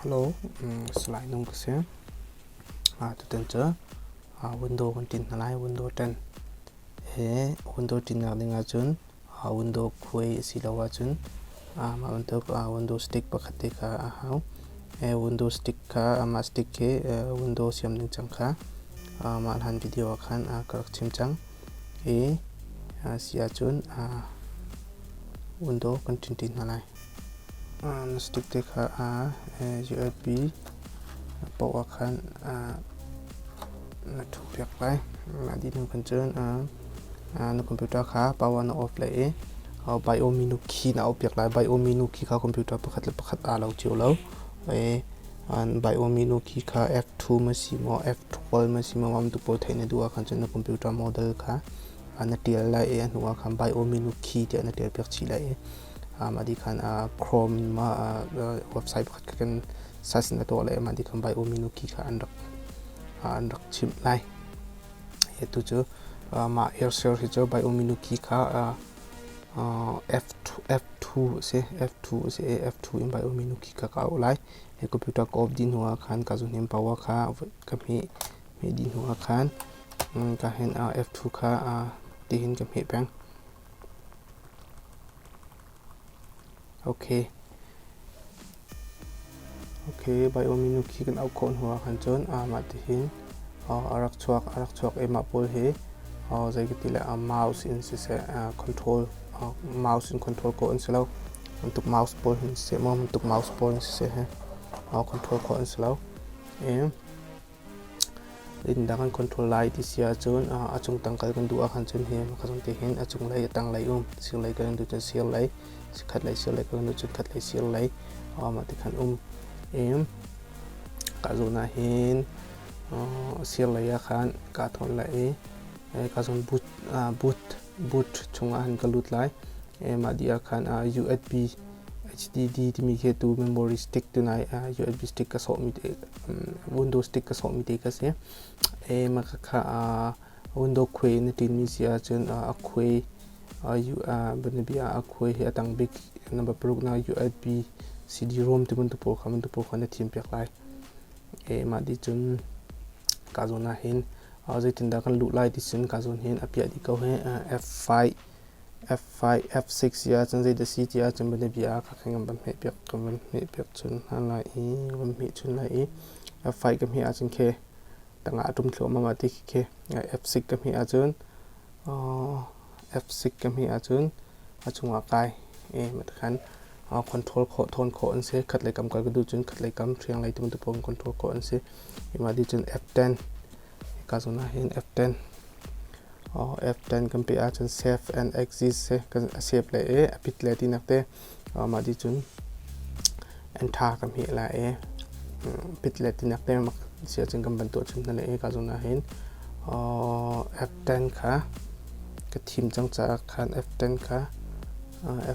Hello, slide nung ka si. Ah, tutan cu window kan tin hna lai, window 10. He window tin nak ding ahcun a window puai a si lo ahcun a mah bantuk a window stick pakhat te kha a hau. window stick kha amah stick hi window siam ding cang kha amah hlan video ah khan ka rak chim cang i a si ahcun window kan ṭhinh ṭi hna lai. Na satuk te kha USB poah ah khan na ṭhu piak lai. Mah dih hnu khan cun na computer kha power na off leh i Biomeeno key na off piak lai. Biomeeno key kha computer pakhat le pakhat aa lo cio lo. Biomeeno key kha F2 ma si maw, F12 ma si maw, mamtu pawl theih na duh ah khan cun na computer model kha na ṭial lai i a hnu ah khan Biomeeno key tiah na ṭial piak chih lai i Madi khan Chrome ma website pakhat kha kan search na tuah le madi thum bai uminu key kha an rak an rak chimh lai. Hitu cu mah airshare hi cu bai uminu key kha F2 si F2 si F2 in bai uminu key kha ka auh lai. Hi computer ka off dih hnuah khan ka zuhnim power kha ka hmeh dih hnuah khan ka hin F2 kha tihin ka hmeh peng. Baiawm minu khi kan auh khawh hnu ahkhan cun mah ti hin a rak chuak a rak chuak i mah pawl hi zei ka ti le mouse in siseh control mouse in control khawh an si lo bantuk mouse pawl hin siseh maw bantuk mouse pawl hin siseh control khawh an si lo i. Dinhnak an control lai ti si ahcun a chungtang kal kan duh ahcun hi pakhat zong te hin a cunglei a tanglei um sirlei kan duh cun sirlei chikkhatlei sirlei kan duh cun khatlei sirlei ti khan um i ka zawn ahhin sirlei ah khan kaa thawn lai i ka zawn boot boot boot chungah khan ka lut lai i mah dih ah khan USB HDD timi khi atu memory stick tunai uh, USB stick ka sawhmi te um, window stick ka sawhmi te ka si e maka kha uh, window khuai na tinmi si ahcun uh, a khuai uh, u uh, banabi uh, a khuai hi atang bik namba paruk na USB CD-ROM timun tupo kha mun tupo kha na thim piak lai e ma di chun ka zona hin uh, zeitin da kan lu lai ti sin ka zon hin apia di ko he uh, F5 F5, F6 si ahcun zeidah si ti ahcun bianabia ah ka ngan van hmeh piak ka van hmeh piak chun hna lai i ka van hmeh chun lai i F5 ka hmeh ahcun khe tangah a ṭum thluahmah ah ti khe F6 ka hmeh ahcun F6 ka hmeh ahcun a chungah kai e matkhan control khawh thawn khawh an si khatlei kam kal ka duh cun khatlei kam ṭhianglei tu bantuk in control khawh an si imah dih cun F10 Ka zun ah hin F10 oh F10 kan peh ahcun save and exit se kan save le e a pit le tinak te oh mah di cun enter kan hmeh la e pit le tinak te mak si ahcun kan ban tuah chun hna le e ka zun ah hin oh F10 kha ka thim cang caah khan F10 kha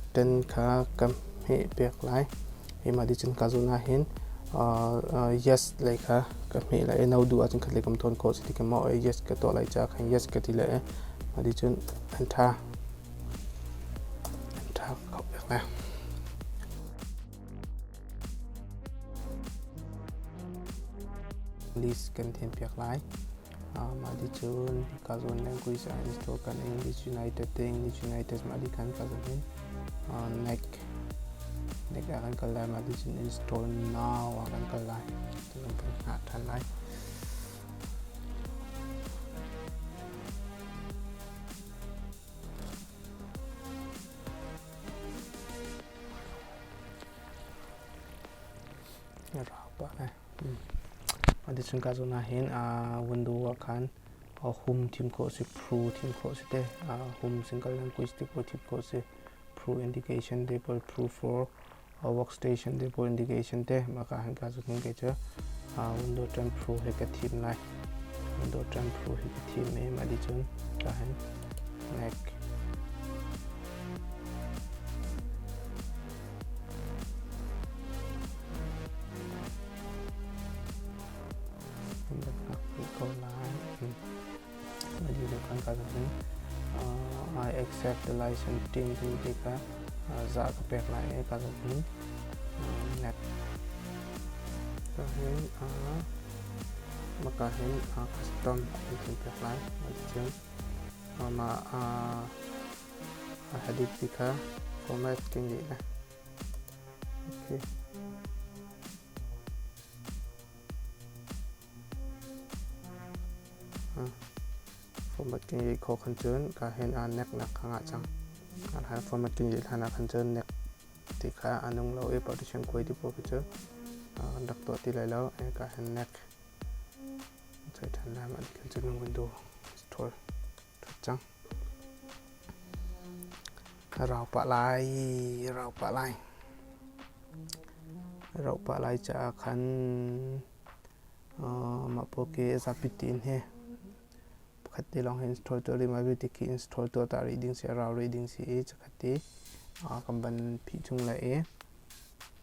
F10 kha kan hmeh pek lai Keimah dicun ka zun ahhin yes lei kha ka hmeh lai i no duh ahcun khatlei kam thawn khawh cuti khin maw yes ka tuah lai caah khan yes ka ti lai i mah dicun an ṭha an ṭha kho pek lai. List kan thian piak lai. Mah ti cun ka zawn le Greece ah an store kan in Leeds United te in Leeds United mah ti khan ka zawn in Nike Nike ah kan kal lai mah ti cun in store now ah kan kal lai ti kan kan hngah ṭhan lai. Rau pah eh. Adi chun ka zo na hin window ah khan hum thim khawh si, pru thim khawh si te, hum single language te pawh thim khawh si, pru indication te pawh pru for workstation te pawh indication te maka han ka zo hin ke chu window tan pru he ka thim lai. Window tan pru he ka thim em adi chun ka hin neck. I accept the license team ti tika za ka pek lai e ka zopin ka hin maka hin custom ti pek lai ma A hadikmi kha Komevti nih a hmuh. Formatting i kho khan cun ka hen aa nek nak kha ngah cang. Arhan formatting i hlan ah khan cun nek ti kha a nung lo i partition kuai ti poh cu an rak tuah ti lai lo. Ka hen nek. Chai than lam an khan cun nung gun du. Thol. That cang. Rau pah lai, rau pah lai. Rau pah lai caah khan mah pawl khi zapi tin he pakhat ti lawng he install tuah rih, mah vialte khi install tuah ta rih ding si, rau rih ding si i, cakhat ti kan van phih chung lai i,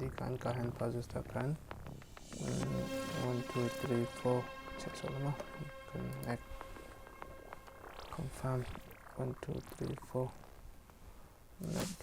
Dikan ka han pa just akan one two three four check so lama kan act confirm one two three four next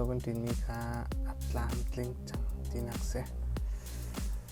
dawh kan ṭinmi kha a tlamtling cang tinak si.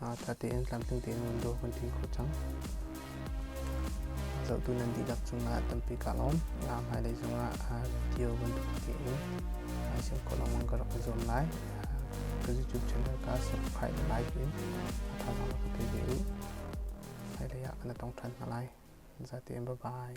ṭha tein tlamtling tein vun dawh kan ti khawh cang. Zohtu nan dihlak cungah tampi ka lawm. Nga hmailei cungah video bantuk tein ai sem khawh lengmang ka rak i zuam lai. Ka YouTube channel ka subscribe like in a thazaang rak ka pe ve u. Hmailei ah kana tong ṭhan hna lai. Za tein bye bye.